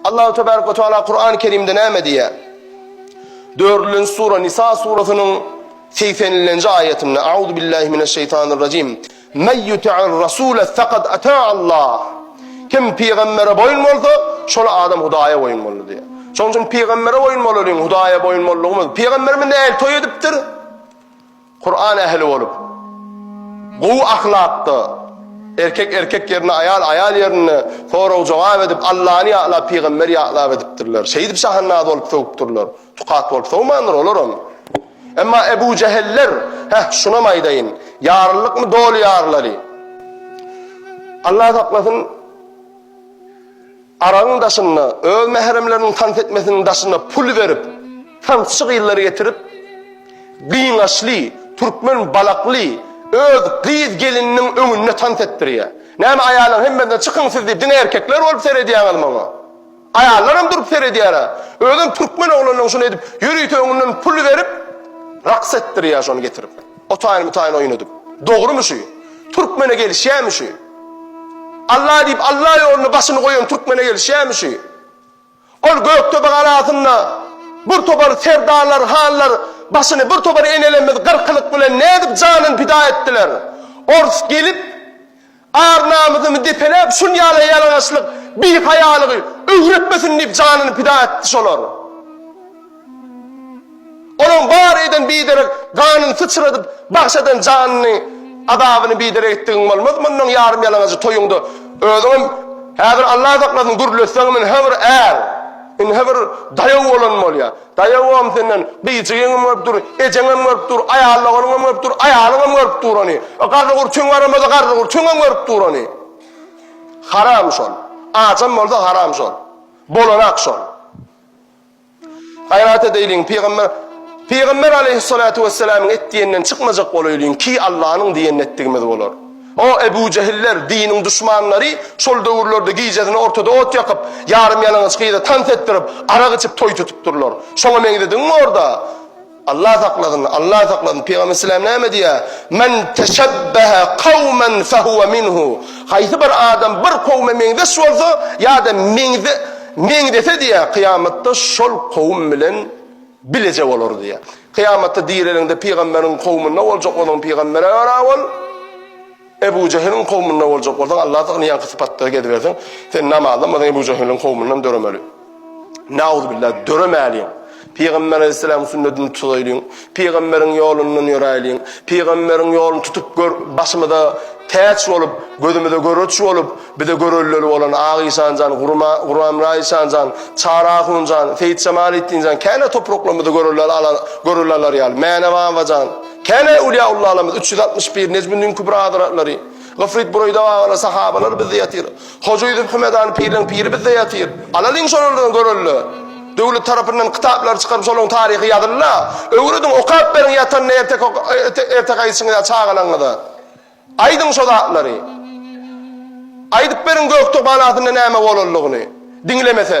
Allahu tebarek we taala Kurany Kerimde näme diýýär? Dördülenji sura Nisa surasynyň segsen nji aýatynda Auzu billahi mineş şeýtanir rajim. Men yuti'ir rasule faqad ata Allah. Kim pygambere boýun bolsa, şol adam Hudaýa boýun boldy diýýär. Şonuň üçin pygambere boýun bolalyň, Hudaýa boýun boldugymy? Pygamberimiz nähili toý edipdir? Kuran ähli bolup, gowy ahlakda, erkek erkek ýerinde, aýal aýal ýerinde sorag-jogap edip, Allany ýatlap, pygamberi ýatlap edipdirler. Şeýdip şahannaz bolup sögüpdirler. Tukat bolup sogmandyr olaram. Emma Ebu Jeheller, heh, şunam aýdaýyn, ýarlylykmy doly ýarlary. Allah saklasyn. Aragyň daşynda, öz mähremleriniň tans etmesiniň daşynda pul berip, tansçy gyzlary getirip, gyňaçly, türkmen balakly öz gyz gelininiň öňünde tans etdirýär. Näme aýallaň hemmesine çykyň siz diýip, diňe erkekler bolup seredýäňiz maňa? Aýallaram durup seredýär-ä. Özem türkmen oglanynyň şuny edip, ýörite öňünden pul berip, raks etdirýär şony getirip. Otaýyn-mutaýyn oýun edip. Dogrymy şu? Türkmene gelişýärmi şu? Alla diýip Alla ýoluna başyny goýan türkmene gelişýämişi. Ol Gökdepe galasynda bir topar serdarlar, hanlar başyny bir topar enelerimiz gyrkylyk bilen nädip janyny pida etdiler. Ors gelip ar-namysymy depeläp şunýala ýalaňaçlyk, bihaýalygy öwretmesin diýip janyny pida etdi şolar. Onuň bar eden biderek ganyny syçradyp, bagş eden janyny, azabyny biderek etdigiň bolmaz mundan ýarym ýalaňajy toýuňda özüňem häzir Allah saklasyn gürletseňem ynha bir är, ynha bir daýaw bolan bolýa, daýawam senden gyjygyňam görüp dur, ejeňem görüp dur, aýallaganyňam görüp dur, aýalyňam görüp dur ony, o garrygurçuň garamasa garrygurçuňam görüp dur ony. Haram şol. Ajam bolsa haram şol. Bolanak şol. Gaýrat edeýliň, pygamber Pygamber aleýhissalatu wessalamyň etdiýeninden çykmajak bolaýlyň, ki Allanyň diýenini etdigimiz bolar. O Ebu Jehiller, diniň duşmanlary şol döwürlerde gijesini ortada ot ýakyp, ýarym ýalaňaç gyza tans etdirip, arak içip toý tutup durlar. Şoňa meňzediňmi orda? Allah saklasyn Allah saklasyn Pygamber Selam näme diýýär Men teşebbehe kavmen fehuve minhu Haýsy bir adam bir kowme meňzeş bolsa ýa-da meňze meňzese diýýär kyýamatda şol kowum bilen bileje bolar diýýär. Kyýamatda direliňde pygamberiň kowmunda boljak onuň pygambere görä bol. Ebu Jehiliň kowmunda boljak bolsaň Alla sygynýanky sypatda gezibersin sen namazlanmasaň Ebu Jehiliň kowmundan döremeli. Nauzubilla döremäliň. Pygamber aleyhisselam sünnetini tutaýlyň. Pygamberiň ýolundan ýöräýliň. Pygamberiň ýoluny tutup gör başymyza täç bolup, gözümize göreç bolup, bize görelleli bolan Ak işan jan, Gurma, Guramra işan jan, Çary ahun jan, Seýit Jemaletdin jan, käne topraklarymyzda görelleli ala, görelleli alary ýaly, Mäne baba jan, Käbä öwliýa-ullalarymyz, üç ýüz altmyş pir, Nejmüddin Kübra hazaretlary, Gyfryt Bureyda Gagany, sahabalar bizde ýatyr. Hoja Ýüzüp Hümedany pirleň piri bizde ýatyr. Alalyň şolardan görelde. Döwlet tarapyndan kitaplary çykaryp şolaryň taryhy ýazyl-la. Öwrediň, okap beriň ýatanda erteki erteki aýdyşyňyza çagalaňyza. Aýdyň şo zatlary. Aýdyp beriň Göktürk ganatynda näme bolanlygyny. Diňlemese.